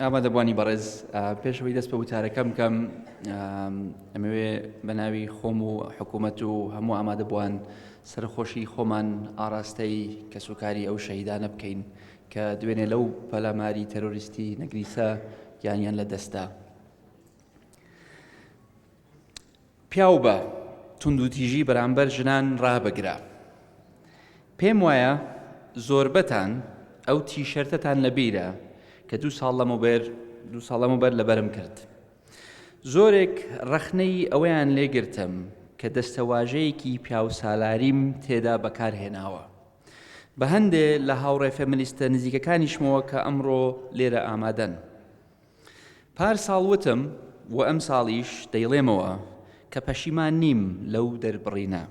ئامادەبووانی بەڕێز پێش ئەوەی دەست بە وتارەکەم بکەم ئەمەوێ بە ناوی خۆم و حکوومەت و هەموو ئامادەبووان سەرخۆشی خۆمان ئاراستەی کەسوکاری ئەو شەهیدانە بکەین کە دوێنێ لەو پەلاماری تەرۆریستی نەگریسە گیانیان لە دەستدا. پیاو بە توندوتیژی بەرامبەر ژنان ڕابگرە. پێم وایە زۆربەتان ئەو تیشەرتەتان لە بیرە کە دوو ساڵ لەمەوبەر دوو ساڵ لەمەوبەر لەبەرم کرد. زۆرێک ڕەخنەی ئەوەیان لێگرتم کە دەستەواژەیەکی پیاوسالاریم تێدا بەکارهێناوە. بە هەندێ لە هاوڕێ فێمنیستە نزیکەکانیشمەوە کە ئەمڕۆ لێرە ئامادەن. پارساڵ وتم و ئەمساڵیش دەیڵێمەوە کە پەشیمان نیم لەو دەربڕینە،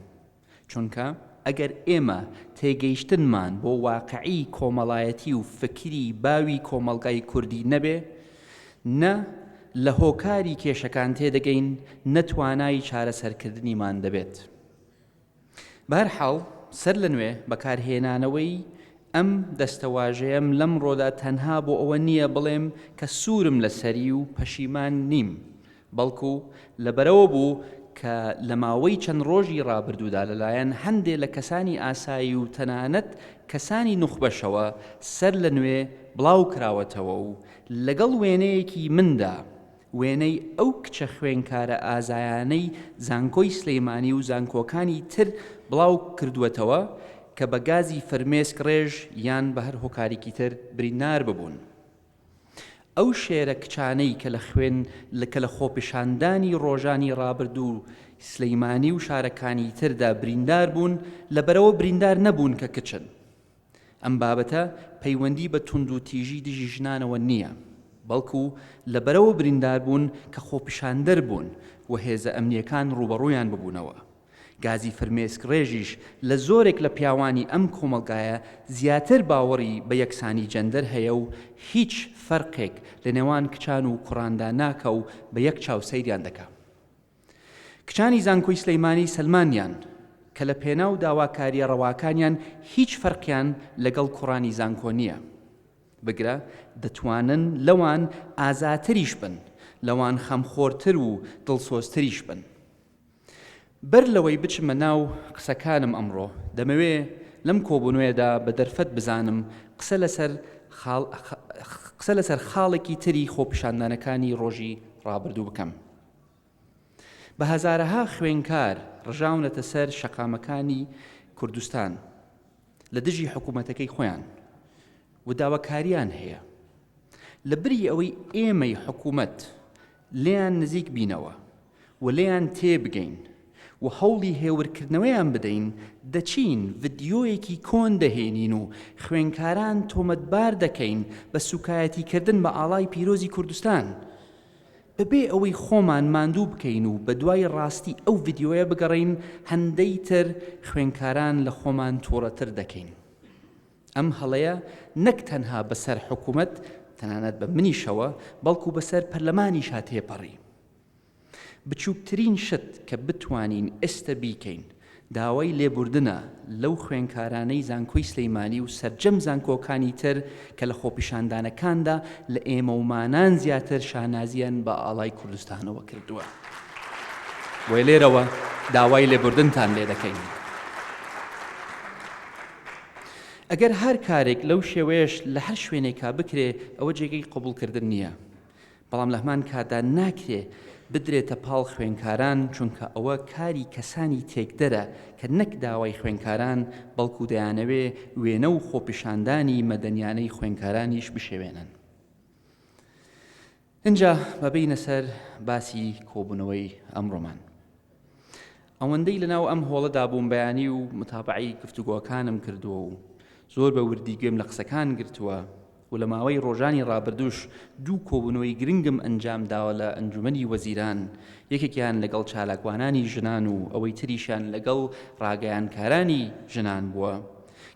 چونکە ئەگەر ئێمە تێگەیشتنمان بۆ واقعی کۆمەڵایەتی و فکری باوی کۆمەڵگای کوردی نەبێ، نە لە هۆکاری کێشەکان تێدەگەین، نە توانای چارەسەرکردنیمان دەبێت. بەهەرحاڵ، سەر لەنوێ بەکارهێنانەوەی ئەم دەستەواژەیەم لەمڕۆدا تەنها بۆ ئەوە نییە بڵێم کە سوورم لەسەری و پەشیمان نیم، بەڵکو لەبەرئەوە بوو کە لە ماوەی چەند ڕۆژی ڕابردوودا لەلایەن هەندێ لە کەسانی ئاسایی و تەنانەت کەسانی نوخبەشەوە سەر لەنوێ بڵاوکراوەتەوە و لەگەڵ وێنەیەکی مندا وێنەی ئەو کچە خوێنکارە ئازایانەی زانکۆی سلیمانی و زانکۆکانی تر بڵاو کردووەتەوە کە بە گازی فرمێسک ڕێژ یان بە هەر هۆکارێکی تر بریندار ببوون. ئەو شێرە کچانەی کە لە خوێن کە لە خۆپیشاندانی ڕۆژانی ڕابردوو سلیمانی و شارەکانی تردا بریندار بوون لەبەرەوە بریندار نەبوون کە کچن. ئەم بابەتە پەیوەندی بە توندوتیژی دژی ژنانەوە نییە، بەڵکو لە بەرەوە برینداربوون کە خۆپیشاندەر بوون و هێزە ئەمنییەکان ڕووبەڕوویان ببوونەوە. گازی فرمێسک ڕێژیش لە زۆرێک لە پیاوانی ئەم کۆمەڵگایە زیاتر باوەڕی بە یەکسانی جەندەر هەیە و هیچ فەرقێک لە نێوان کچان و کوڕاندا ناکا و بە یەک چاو سەیریان دەکا. کچانی زانکۆی سلیمانی سەلماندیان کە لە پێناو داواکاریە ڕەواکانیان هیچ فەرقیان لەگەڵ کوڕانی زانکۆ نیە بگرە دەتوانن لەوان ئازاتریش بن لەوان خەمخۆرتر و دڵسۆزتریش بن بەر لەوەی بچمە ناو قسەکانم ئەمڕۆ دەمەوێ لەم کۆبونوێدا بە دەرفەت بزانم قسە لەسەر خاڵ قسە لەسەر خاڵێکی تری خۆپیشاندانەکانی ڕۆژی ڕابردوو بکەم. بە هەزارەها خوێنکار ڕژاونەتە سەر شەقامەکانی کوردستان لە دژی حکوومەتەکەی خۆیان و داواکاریان هەیە. لە بری ئەوەی ئێمەی حکوومەت لێیان نزیک بینەوە و لێیان تێ بگەین و هەوڵی هێورکردنەوەیان بدەین، دەچین ڤیدیۆیەکی کۆن دەهێنین و خوێنکاران تۆمەتبار دەکەین بە سووکایەتیکردن بە ئاڵای پیرۆزی کوردستان. بەبێ ئەوەی خۆمان ماندوو بکەین و بەدوای ڕاستی ئەو ڤیدیۆیە بگەڕێین هەندەی تر خوێنکاران لە خۆمان توڕەتر دەکەین ئەم هەڵەیە نەک تەنها بەسەر حکومەت تەنانەت بە منیشەوە بەڵکو بەسەر پەرلەمانیشا تێپەڕی بچوکترین شت کە بتوانین ئێستە بیکەین داوای لێبوردنە لەو خوێنکارانەی زانکۆی سلیمانی و سەرجەم زانکۆکانی تر کە لە خۆپیشاندانەکاندا لە ئێمەومانان زیاتر شانازیان بە ئاڵای کوردستانەوە کردووە و لێرەوە داوای لێبوردنتان لێدەکەین. ئەگەر هەر کارێک لەو شێوەیەش لە هەر شوێنێکا بکرێ ئەوە جێگەی قبوڵکردن نییە. بەڵام لەهەمان کاتدا ناکرێ بدرێتە پاڵ خوێنکاران چونکە ئەوە کاری کەسانی تێکدەرە کە نەک داوای خوێنکاران بەڵکو دەیانەوێ وێنە و خۆپیشاندانی مەدەنیانەی خوێنکارانیش بشێوێنن. ئینجا با بێینە سەر باسی کۆبوونەوەی ئەمڕۆمان. ئەوەندەی لەناو ئەم هۆڵەدا بووم بەیانی و متابعی گفتوگۆکانم کردووە و زۆر بە وردی گوێم لە قسەکان گرتووە و لە ماوەی ڕۆژانی ڕابردوش دوو کۆبنەوەی گرنگم ئەنجام داوە لە ئەنجومەنی وەزیران یەکێکیان لەگەڵ چالاکوانانی ژنان و ئەوەی تریشیان لەگەڵ ڕاگەیانکارانی ژنان بووە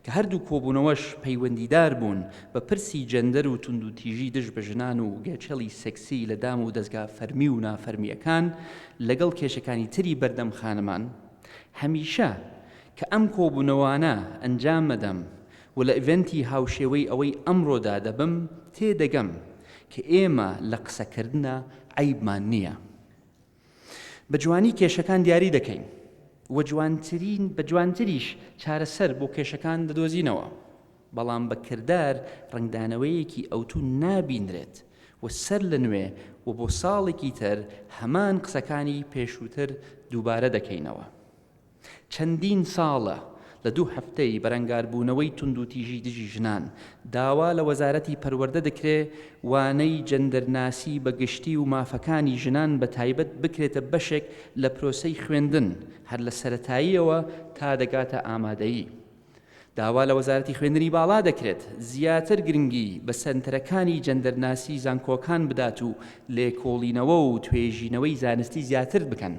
کە هەردوو کۆبوونەوەش پەیوەندیدار بوون بە پرسی جێندەر و توندوتیژی دژ بە ژنان و گێچەڵی سێکسی لە دام و دەزگا فەرمی و نافەرمییەکان لەگەڵ کێشەکانی تری بەردەم خانمان هەمیشە کە ئەم کۆبوونەوانە ئەنجام ئەدەم و لە ئیڤێنتی هاوشێوەی ئەوەی ئەمڕۆدا دەبم تێدەگەم کە ئێمە لە قسەکردنا عەیبمان نییە. بە جوانی کێشەکان دیاری دەکەین و جوانترین بە جوانتریش چارەسەر بۆ کێشەکان دەدۆزینەوە، بەڵام بە کردار ڕەنگدانەوەیەکی ئەوتو نابینرێت و سەر لە نوێ و بۆ ساڵێکی تر هەمان قسەکانی پێشوتر دووبارە دەکەینەوە. چەندین ساڵە لە دوو هەفتەی بەرەنگاربوونەوەی توندوتیژی دژی ژنان، داوا لە وەزارەتی پەروەردە دەکرێ وانەی جەندەرناسی بە گشتی و مافەکانی ژنان بە تایبەت بکرێتە بەشێک لە پرۆسەی خوێندن هەر لە سەرەتاییەوە تا دەگاتە ئامادەیی. داوا لە وەزارەتی خوێندنی باڵا دەکرێت زیاتر گرنگی بە سەنتەرەکانی جەندەرناسی زانکۆکان بدات و لێکۆڵینەوە و توێژینەوەی زانستی زیاتر بکەن.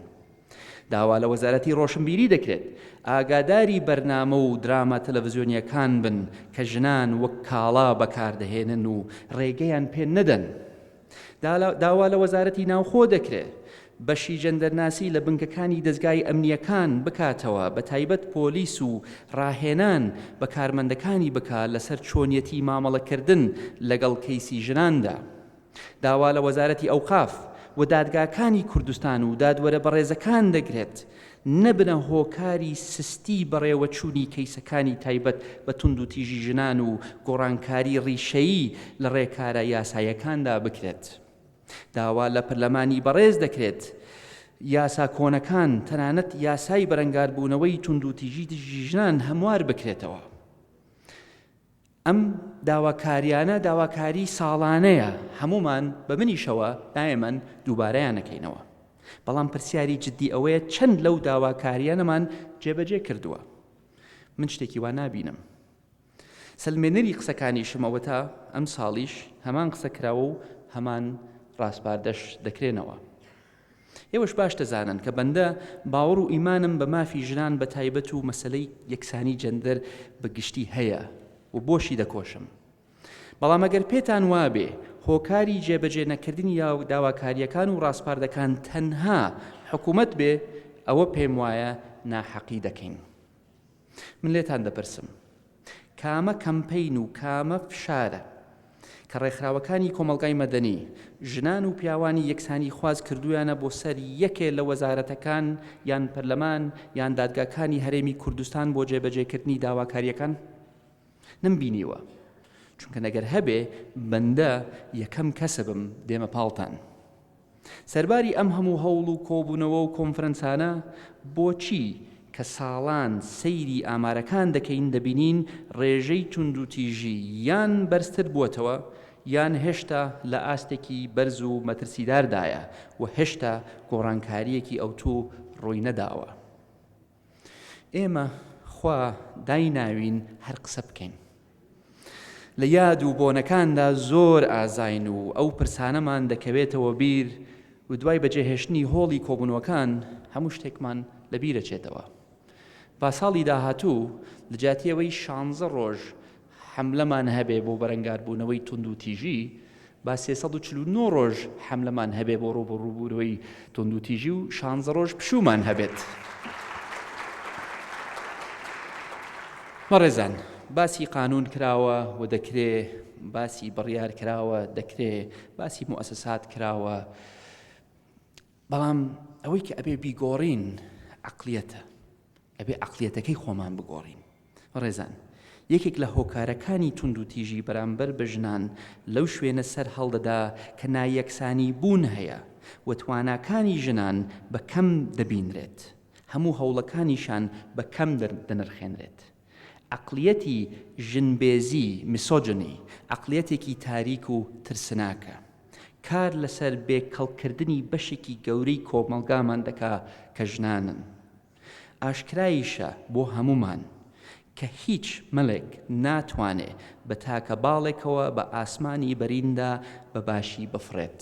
داوا لە وەزارەتی ڕۆشنبیری دەکرێت ئاگاداری بەرنامە و دراما تەلەڤزیۆنییەکان بن کە ژنان وەک کاڵا بەکاردەهێنن و ڕێگەیان پێ نەدەن. داوا لە وەزارەتی ناوخۆ دەکرێت بەشی جەندەرناسی لە بنکەکانی دەزگای ئەمنیەکان بکاتەوە بە تایبەت پۆلیس و ڕاهێنان بە کارمەندەکانی بکا لەسەر چۆنیەتی مامەڵەکردن لەگەڵ کەیسی ژناندا. داوا لە وەزارەتی ئەوقاف و دادگاکانی کوردستان و دادوەرە بەڕێزەکان دەکرێت نەبنە هۆکاری سستی بەڕێوەچوونی کەیسەکانی تایبەت بە توندوتیژی ژنان و گۆڕانکاری ڕیشەیی لە ڕێکارە یاسایەکاندا بکرێت. داوا لە پەرلەمانی بەڕێز دەکرێت یاسا کۆنەکان تەنانەت یاسای بەرەنگاربوونەوەی توندوتیژی دژی ژنان هەموار بکرێتەوە. ئەم داواکاریانە داواکاری ساڵانەیە، هەموومان بە منیشەوە نایەمەن دووبارەیانەکەینەوە، بەڵام پرسیاری جدی ئەوەیە چەند لەو داواکاریانەمان جێبەجێ کردووە؟ من شتێکی وا نابینم. سەلمێنەری قسەکانیشم ئەوەتا ئەمساڵیش هەمان قسە کراوە و هەمان ڕاسپاردەش دەکرێنەوە. ئێوەش باش دەزانن کە بەندە باوەڕ و ئیمانم بە مافی ژنان بە تایبەت و مەسەلەی یەکسانی جەندەر بە گشتی هەیە و بۆشی دەکۆشم. بەڵام ئەگەر پێتان وابێ هۆکاری جێبەجێ نەکردنی داواکارییەکان و ڕاسپاردەکان تەنها حکوومەت بێ، ئەوە پێم وایە ناحەقی دەکەین. من لێتان دەپرسم کامە کەمپەین و کامە فشارە کە ڕێکخراوەکانی کۆمەڵگای مەدەنی، ژنان و پیاوانی یەکسانیخواز کردوویانە بۆ سەر یەکێ لە وەزارەتەکان یان پەرلەمان یان دادگاکانی هەرێمی کوردستان بۆ جێبەجێکردنی داواکارییەکان؟ نەمبینیوە. چونکە نەگەر هەبێ بەندە یەکەم کەسبم دێمە پاڵتان. سەرباری ئەم هەموو هەوڵ و کۆبوونەوە و کۆنفرەنسانە، بۆچی کە ساڵان سەیری ئامارەکان دەکەین دەبینین ڕێژەی توندوتیژی یان بەرزتر بووەتەوە یان هێشتا لە ئاستێکی بەرز و مەترسیداردایە و هێشتا گۆڕانکارییەکی ئەوتوو ڕووی نەداوە؟ ئێمە خوا دایناوین هەر قسە بکەین لە یاد و بۆنەکاندا زۆر ئازاین و ئەو پرسانەمان دەکەوێتەوە بیر و دوای بەجێهێشتنی هۆڵی کۆبوونەوەکان هەموو شتێکمان لە بیرەچێتەوە با ساڵی داهاتوو لە جاتیەوەی شانزە ڕۆژ حەملەمان هەبێ بۆ بەرەنگاربوونەوەی توندوتیژی، با سێ سەد و چل و نۆ ڕۆژ حەملەمان هەبێ بۆ ڕووبەڕووبوونەوەی توندوتیژی و شانزە ڕۆژ پشوومان هەبێت. بەڕێزان، باسی قانون کراوە و دەکرێ، باسی بڕیار کراوە، دەکرێ، باسی موئەسەسات کراوە، بەڵام ئەوەی کە ئەبێ بیگۆڕین عەقڵیەتە، ئەبێ عەقڵیەتەکەی خۆمان بگۆڕین، ڕێزان. یەکێک لە هۆکارەکانی توندوتیژی بەرامبەر بە ژنان لەو شوێنە سەر هەڵدەدا کە نایەکسانی بوون هەیە و تواناکانی ژنان بە کەم دەبینرێت، هەموو هەوڵەکانیشان بە کەم دەنرخێنرێت. عەقڵیەتی ژن بێزی، Misogyny، عەقڵیەتێکی تاریک و ترسناکە. کار لەسەر بێ کەڵککردنی بەشێکی گەورەی کۆمەڵگامان دەکا کە ژنانن. ئاشکرایشە بۆ هەموومان کە هیچ مەلێک ناتوانێ بە تاکە باڵێکەوە بە ئاسمانی بەریندا بە باشی بفڕێت.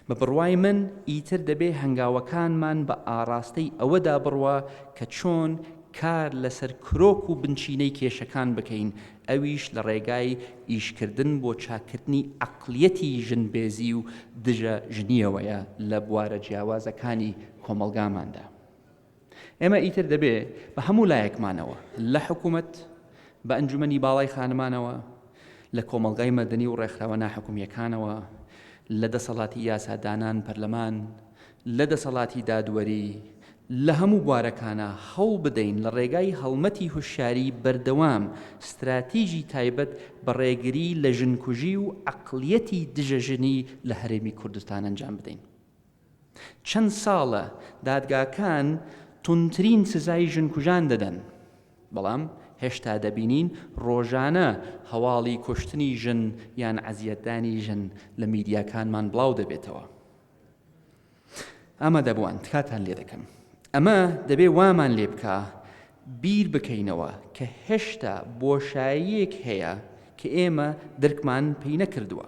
بە بڕوای من ئیتر دەبێ هەنگاوەکانمان بە ئاڕاستەی ئەوەدا بڕوا کە چۆن کار لەسەر کرۆک و بنچینەی کێشەکان بکەین ئەویش لە ڕێگای ئیشکردن بۆ چاککردنی عەقڵیەتی ژنبێزی و دژە ژنییەوەیە لە بوارە جیاوازەکانی کۆمەڵگاماندا. ئێمە ئیتر دەبێ بە هەموو لایەکمانەوە، لە حکوومەت، بە ئەنجومەنی باڵای خانمانەوە، لە کۆمەڵگای مەدەنی و ڕێکخراوە ناحکومییەکانەوە، لە دەسەڵاتی یاسادانان، پەرلەمان، لە دەسەڵاتی دادوەری لە هەموو بوارەکانا هەوڵ بدەین لە ڕێگای هەڵمەتی هوشیاری بەردەوام ستراتیجی تایبەت بە ڕێگری لە ژنکوژی و عەقڵیەتی دژە ژنی لە هەرێمی کوردستان ئەنجام بدەین. چەند ساڵە دادگاکان توندترین سزای ژنکوژان دەدەن، بەڵام هێشتا دەبینین ڕۆژانە هەواڵی کوشتنی ژن یان ئەزیەتدانی ژن لە میدیاکانمان بڵاو دەبێتەوە. ئامادەبووان تکاتان لێ دەکەم ئەمە دەبێ وامان لێ بکە بیر بکەینەوە کە هێشتا بۆشاییەک هەیە کە ئێمە درکمان پێی نەکردووە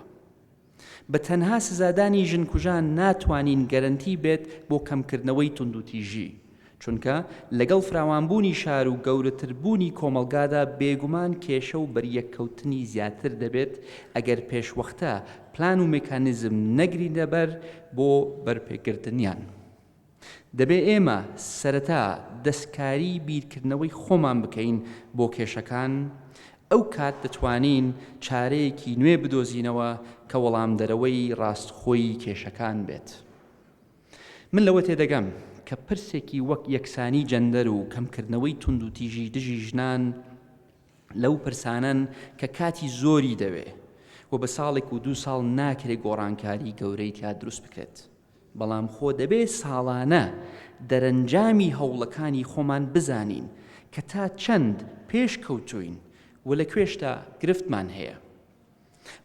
بە تەنها سزادانی ژنکوژان ناتوانین گەرنتی بێت بۆ کەمکردنەوەی توندوتیژی چونکە لەگەڵ فراوانبوونی شار و گەورەتربوونی کۆمەڵگادا بێگومان کێشە و بەریەککەوتنی زیاتر دەبێت ئەگەر پێشوەختە پلان و مێکانیزم نەگرینەبەر بۆ بەرپێگرتنیان. دەبێ ئێمە سەرەتا دەستکاری بیرکردنەوەی خۆمان بکەین بۆ کێشەکان، ئەو کات دەتوانین چارەیەکی نوێ بدۆزینەوە کە وەڵامدەرەوەی ڕاستخۆی کێشەکان بێت. من لەوە تێدەگەم کە پرسێکی وەک یەکسانی جەندەر و کەمکردنەوەی توندوتیژی دژی ژنان لەو پرسانەن کە کاتی زۆری دەوێ و بە ساڵێک و دوو ساڵ ناکرێ گۆڕانکاری گەورەی تیا دروست بکرێت. بەڵام خۆ دەبێ ساڵانە دەرەنجامی هەوڵەکانی خۆمان بزانین کە تا چەند پێشکەوتووین و لە کوێشدا گرفتمان هەیە.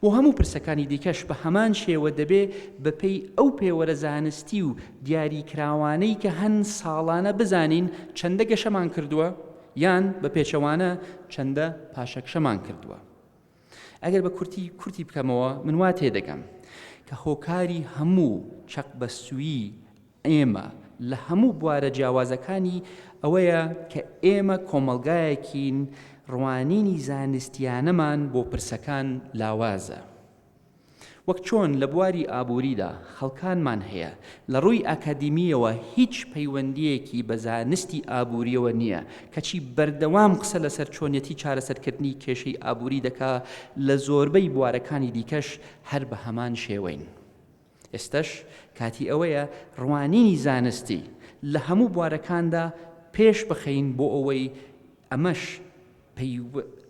بۆ هەموو پرسەکانی دیکەش بە هەمان شێوە دەبێ بە پێی ئەو پێوەرە زانستی و دیاریکراوانەی کە هەن ساڵانە بزانین چەندە گەشەمان کردووە یان بە پێچەوانە چەندە پاشەکشەمان کردووە. ئەگەر بە کورتی کورتی بکەمەوە من وا تێدەگەم کە هۆکاری هەموو چەقبەستوویی ئێمە لە هەموو بوارە جیاوازەکانی ئەوەیە کە ئێمە کۆمەڵگایەکین ڕوانینی زانستیانەمان بۆ پرسەکان لاوازە وەک چۆن لە بواری ئابووریدا خەڵکانمان هەیە لە ڕووی ئاکادیمیەوە هیچ پەیوەندیەکی بە زانستی ئابووریەوە نییە کەچی بەردەوام قسە لەسەر چۆنیەتی چارەسەرکردنی کێشەی ئابووری دەکا لە زۆربەی بوارەکانی دیکەش هەر بە هەمان شێوەین. ئێستەش کاتی ئەوەیە ڕوانینی زانستی لە هەموو بوارەکاندا پێش بخەین بۆ ئەوەی ئەمەش پەی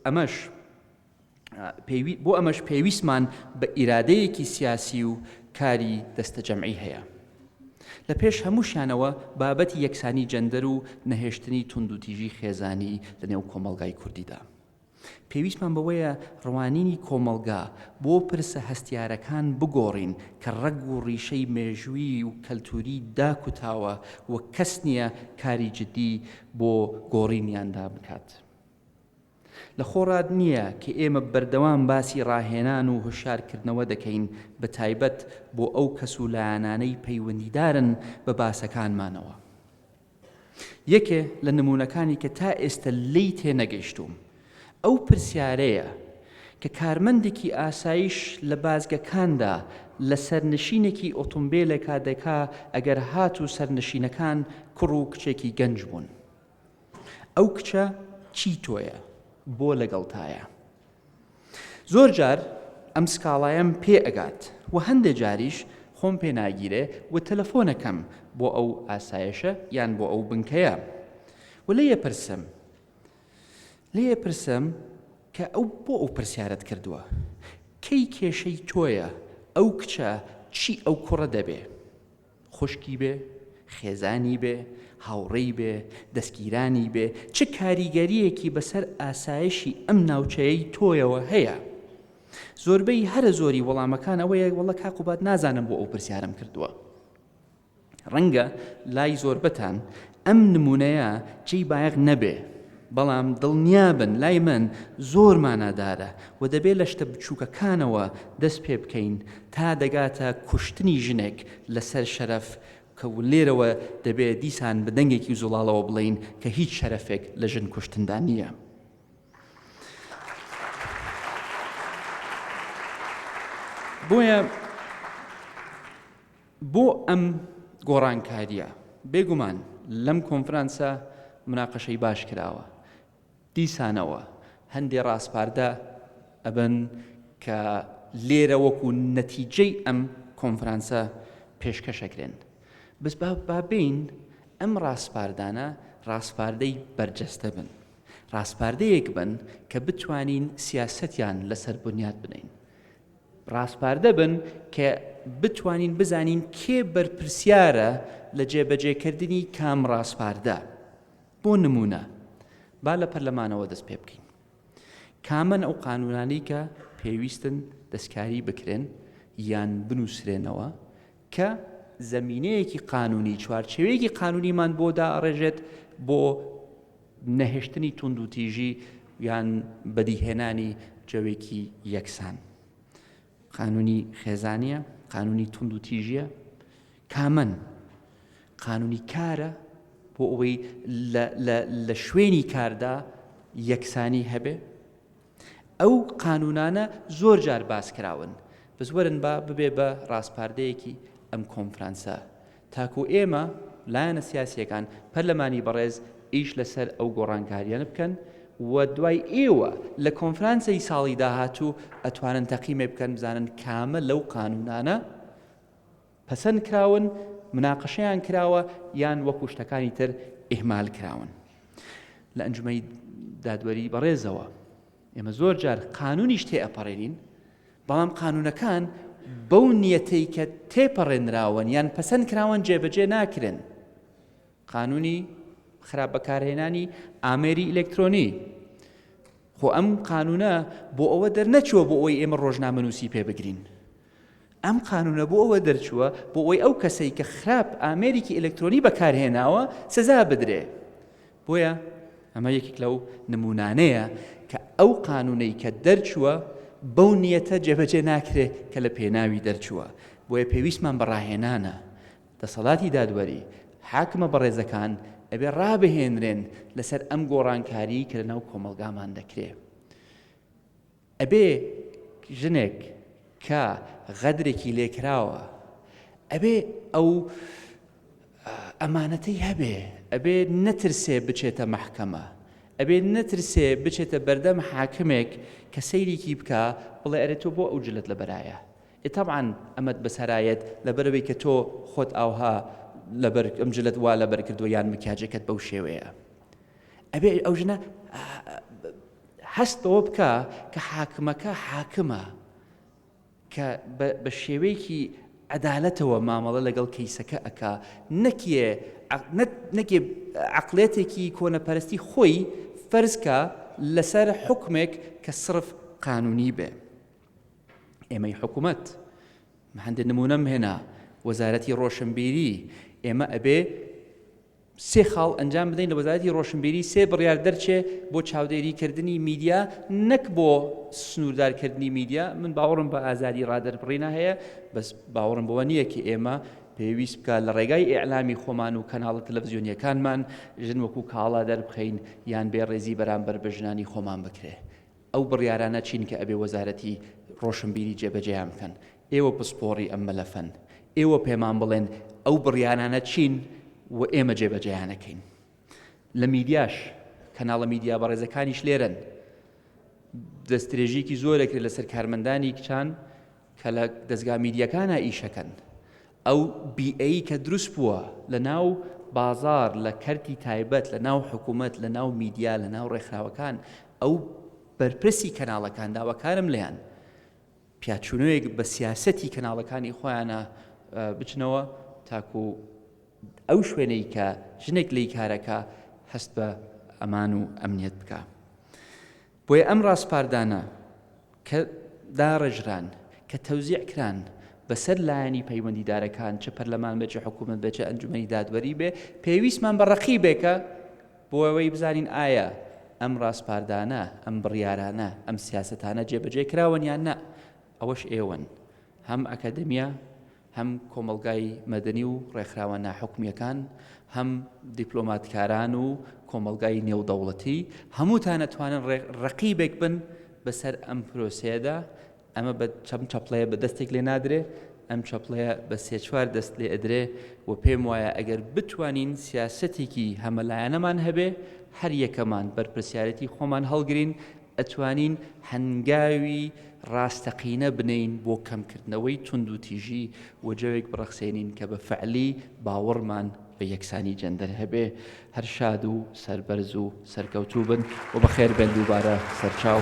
ئەمەش پێوی بۆ ئەمەش پێویستمان بە ئیرادەیەکی سیاسی و کاری دەستەجەمعی هەیە لە پێش هەمووشانەوە بابەتی یەکسانی جەندەر و نەهێشتنی توندوتیژی خێزانی لە نێو کۆمەڵگای کوردیدا پێویستمان بەوەیە ڕوانینی کۆمەڵگا بۆ پرسە هەستیارەکان بگۆڕین کە ڕەگ و ڕیشەی مێژووی و کەلتووری داکوتاوە و کەس نییە کاری جدی بۆ گۆڕینیاندا بکات. لە خۆڕات نییە کە ئێمە بەردەوام باسی ڕاهێنان و هۆشیارکردنەوە دەکەین بە تایبەت بۆ ئەو کەس و لایەنانەی پەیوەندیدارن بە باسەکانمانەوە. یەکێ لە نموونەکانی کە تا ئێستە لێی تێنەگەیشتووم ئەو پرسیارەیە کە کارمەندێکی ئاسایش لە بازگەکاندا لە سەرنشینێکی ئۆتومبێلێکا دەکا ئەگەر هاتوو سەرنشینەکان کوڕ و کچێکی گەنج بوون ئەو کچە چی تۆیە؟ بۆ لەگەڵتایە؟ زۆر جار ئەم سکاڵایەم پێ ئەگات و هەندێ جاریش خۆم پێ ناگیرێ و تەلەفۆن ئەکەم بۆ ئەو ئاسایشە یان بۆ ئەو بنکەیە و لێی ئەپرسم لێی ئەپرسم کە ئەو بۆ ئەو پرسیارەت کردووە کەی کێشەی تۆیە ئەو کچە چی ئەو کوڕە دەبێ خوشکی بێ، خێزانی بێ، هاوڕێی بێ، دەستگیرانی بێ، چ کاریگەرییەکی بەسەر ئاسایشی ئەم ناوچەیەی تۆیەوە هەیە؟ زۆربەی هەرە زۆری وەڵامەکان ئەوەیە وەڵە کا قوباد نازانم بۆ ئەو پرسیارم کردووە. ڕەنگە لای زۆربەتان ئەم نموونەیە جێی بایەخ نەبێ، بەڵام دڵنیابن لای من زۆر مانادارە و دەبێ لە شتە بچووکەکانەوە دەست پێ بکەین تا دەگاتە کوشتنی ژنێک لەسەر شەرەف کە و لێرەوە دەبێ دیسان بە دەنگێکی زوڵاڵەوە بڵێین کە هیچ شەرەفێک لە ژن کوشتندا نییە. بۆیە بۆ ئەم گۆڕانکارییە بێگومان لەم کۆنفرانسە مناقەشەی باش کراوە دیسانەوە هەندێ ڕاسپاردە ئەبن کە لێرە وەکو نەتیجەی ئەم کۆنفرانسە پێشکەشەکرێن بس بابین ئەم ڕاسپاردانە ڕاسپاردەی بەرجەستە بن ڕاسپاردەیەک بن کە بتوانین سیاسەتیان لەسەر بنیات بنین ڕاسپاردە بن کە بتوانین بزانین کێ بەرپرسیارە لە جێبەجێکردنی کام ڕاسپاردە بۆ نمونە با لە پەرلەمانەوە دەست پێ بکەین کامن ئەو قانونانی کە پێویستن دەستکاری بکرێن یان بنووسرێنەوە کە زەمینەیەکی قانونی، چوارچێوەیەکی قانونیمان بۆ دائەڕێژێت بۆ نەهێشتنی توندوتیژی یان بەدیهێنانی جەوێکی یەکسان. قانونی خێزانیە، قانونی توندوتیژیە، کامەن قانونی کارە بۆ ئەوەی لە شوێنی کاردا یەکسانی هەبێ، ئەو قانوونانە زۆر جار باس کراون بەس وەرن با ببێ بە ڕاسپاردەیەکی ئەم کۆنفرانسە تاکو ئێمە لایەنە سیاسیەکان پەرلەمانی بەڕێز ئیش لەسەر ئەو گۆڕانکاریانە بکەن و دوای ئێوە لە کۆنفرانسی ساڵی داهاتوو ئەتوانن تەقیمێ بکەن بزانن کامە لەو قانونانە پەسەند کراون، مناقەشەیان کراوە یان وەکو شتەکانی تر ئیهمال کراون. لە ئەنجومەی دادوەری بەڕێزەوە ئێمە زۆر جار قانونیش تێئەپەڕێنین، بەڵام قانونەکان بەو نیەتەی کە تێپەڕێنراون یان پەسەند کراون جێبەجێ ناکرێن. قانونی خراپ بەکارهێنانی ئامێری ئیلکترۆنی خۆ ئەم قانونە بۆ ئەوە دەرنەچووە بۆ ئەوەی ئێمە ڕۆژنامەنووسی پێ بگرین ئەم قانوونە بۆ ئەوە دەرچووە بۆ ئەوەی ئەو کەسەی کە خراپ ئامێرێکی ئەلەکترۆنی بەکارهێناوە سزا بدرێ بۆیە ئەمە یەکێک لەو نمونانەیە کە ئەو قانوونەی کە دەرچووە بەو نیەتە جێبەجێ ناکرێ کە لە پێناوی دەرچووە بۆیە پێویستمان بەڕاهێنانە دەسەڵاتی دادوەری حاکمە بەڕێزەکان ئەبێ ڕابهێنرێن لەسەر ئەم گۆڕانکاری کە لە ناو کۆمەلگامان دەکرێ ئەبێ ژنێک کە غەدرێکی لێکراوە ئەبێ ئەو ئەمانەتەی هەبێ ئەبێ نەترسێ بچێتە مەحکەمە ئەبێ نەترسێ بچێتە بەردەم حاکمێک کە سەیرێکی بکە بڵێ ئەرێ تۆ بۆ ئەو جلت لە بەرایە ئێتابان ئەمەد بەسەرایەت لەبەرەوەی کە تۆ خۆت ئاوها لەبەر ئەم جلت وا لەبەر کردو یان مکیاجەکەت بەو شێوەیە ئەبێ ئەو ژنە هەست بەوە بکە کە حاکمەکە حاکمە کە بە شێوەیەکی عەدالەتەوە مامەڵە لەگەڵ کەیسەکە ئەک نەکیێ نەکێ عقلێتێکی کۆنەپەرستی خۆی فەرزکە لەسەر حکمێک کە سرف قانونی بێ ئێمەی حکوومەت هەندێک نمونەم هێنا وەزارەتی ڕۆشنبیری ئێمە ئەبێ سێ خاڵ ئەنجام بدەین لە وەزارەتی ڕۆشنبیری سێ بڕیار دەرچێ بۆ چاودێری کردنی میدیا نەک بۆ سنووردار کردنی میدیا من باوەڕم بە ئازادی ڕادەربڕینا هەیە بەس باوەڕم بەوە نییە کە ئێمە پێویست بکە لە ڕێگای ئیعلامی خۆمان و کەناڵە تەلەڤزیۆنیەکانمان ژن وەکو کاڵا دەربخەین یان بێ ڕێزی بەرامبەر بە ژنانی خۆمان بکرێ ئەو بڕیارانە چین کە ئەبێ وەزارەتی ڕۆشنبیری جێبەجێیان بکەن ئێوە پسپۆڕی ئەم مەلەفەن، ئێوە پێمان بڵێن ئەو بڕیارانە چین و ئێمە جێبەجێیان ئەکەین. لە میدیاش، کەناڵە میدیا بەڕێزەکانیش لێرەن، دەستدرێژییەکی زۆر ئەکرێت لەسەر کارمەندانی کچان کە لە دەزگا میدیاکانە ئیشەکەن. ئەو بیئەی کە دروست بووە لە ناو بازار لە کەرتی تایبەت لە ناو حکوومەت لە ناو میدیا لە ناو ڕێکخراوەکان ئەو بەرپرسی کەناڵەکان داواکارم لێیان پیاچونەوەیەک بە سیاسەتی کەناڵەکانی خۆیانە بچنەوە تاکو ئەو شوێنەی کە ژنێک لی کارەکە هەست بە ئەمان و ئەمنیەت بکە بۆیە ئەم ڕاسپاردانە کە داڕێژران کە تەوزیع کران بەسەر لایەنی پەیوەندیدارەکان چ پەرلەمان بێ چ حکوومەت بێ چ ئەنجومی دادوەری بێ پێویستمان بە ڕقی بێکە بۆ ئەوەی بزانین ئایا ئەم ڕاسپاردانە، ئەم بڕیارانە، ئەم سیاسەتانە جێبەجێ کراون یان نا، ئەوەش ئێوەن، هەم ئەکادیمیا، هەم کۆمەڵگای مەدەنی و ڕێکخراوە ناحکومییەکان، هەم دیپلۆماتکاران و کۆمەڵگای نێودەوڵەتی، هەمووتان ئەتوانن ڕەقیبێک بن بەسەر ئەم پرۆسەیەدا ئەمە بە چەم چەپڵەیە بە دەستێک لێ نادرێ ئەم چەپڵەیە بە سێ چوار دەست لێ ئەدرێ و پێم وایە ئەگەر بتوانین سیاسەتێکی هەمەلایەنەمان هەبێ هەر یەکەمان بەرپرسیارەتی خۆمان هەڵگرین ئەتوانین هەنگاوی ڕاستەقینە بنین بۆ کەمکردنەوەی تونند و تیژی و جەوێک بڕەخسێنین کە بە فعلی باوەڕمان بە یەکسانی جەندەر هەبێ هەر شاد و سەربەرز و سەرکەوتوو بن و بەخێر بێن دووبارە سەرچاو